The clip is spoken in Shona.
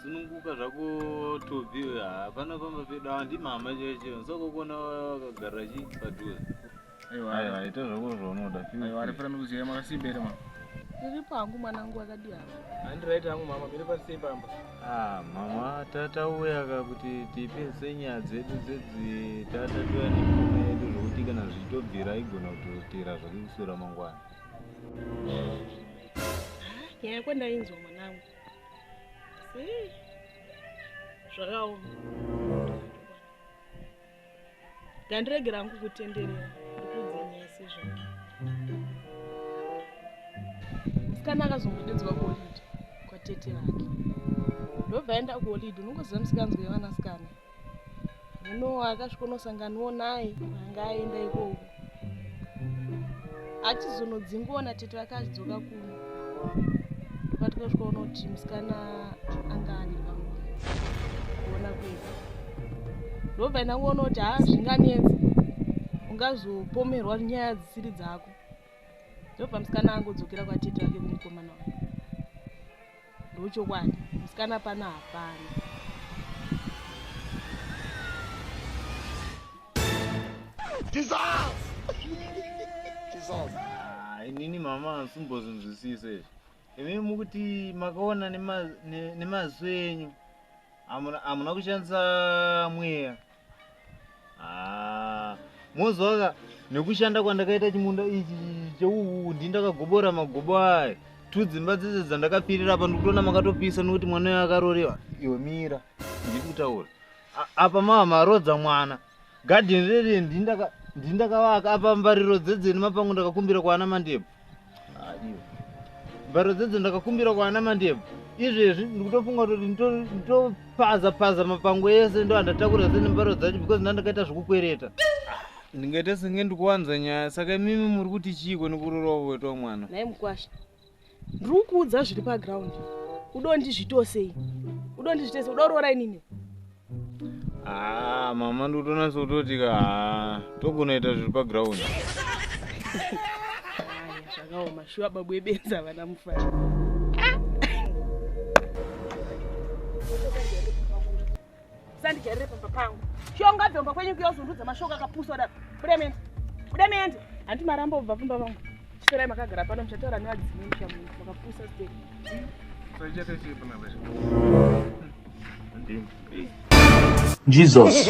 sununguka zvako tobi hapana pamba pedu awa ndimama cheche nsakokona vakagara chi padhuze aiwa ita zvako zvaunoda arifanira kuziva makasimba here mama ndiripo hangu mwanangu akadii havo handiraiti hangu mama miri pasei pamba ah, mama tatauyaka kuti tipinse nyaya dzedu dzedzi tatatoya nemurume yedu zvokuti kana zvichitobvira aigona kutotera zvake kusura mangwana nyaya yako ndainzwa mwanangu asi zvakaoma ngandiregera hangu kutenderera ndikudzinyasi zvake musikana akazongotedzwa kuolidi kwatete vake ndobva aenda kuolidi unongoziva misikanzwa yevanasikana Hino akasvikonosanganiwo naye anga aenda ikoko achizonodzingiwa natete vake achidzoka kuno patikasvikaona kuti musikana anga ane pamwe kuona kwedu ndobva ndangoona kuti haa zvinganetsi ungazopomerwa nyaya dzisiri dzako ndobva musikana angodzokera kwatete vake kumukomana wake ndochokwadi musikana pano hapana ah, inini mama ansimbozvinzwisisa izvi imi mukuti makaona nemaziso enyu hamuna kushandisa mweya Ah, mozwaka nekushanda kwandakaita chimunda ichi cheuwu ndi ndakagobora magobo aya two dzimba dzese dzandakapirira apa ndikutoona makatopisa nekuti mwana uyo akarorewa iwe mira ndiri kutaura A- apa mava marodza mwana gadheni rere ndindakavaka apa mbariro dzedzeni mapangu ndakakumbira kwaana mandebvu mbharo dzedzo ndakakumbira kwaana mandebvu izvezvi ndikutofunga kuti nditopaza paza mapango ese ndo andatakura se nembharo dzacho because ndandakaita zvekukwereta ndingaita senge ndikuwanza nyaya saka imimi muri kuti chiiko nekurorowa wetwa mwana naye mukwasha ndiri kukuudza zviri paground udondizvitosei udondizvitosei udaurora inini Ah, mama ndotonasa kutoti ka ah, tokunoita zviri paground zvakaoma shuwa babu ebenza vana mufana sandijarire pamba pangu shonga dzomba kwenyu kuyozundudza mashoko akapusa daro buda mende buda mende handi maramba ubva pamba vangu Chiserai makagara pano muchataura nevadzimai muchamuka makapusa step. Saichete chii pana veshe. Ndimi. Jesus.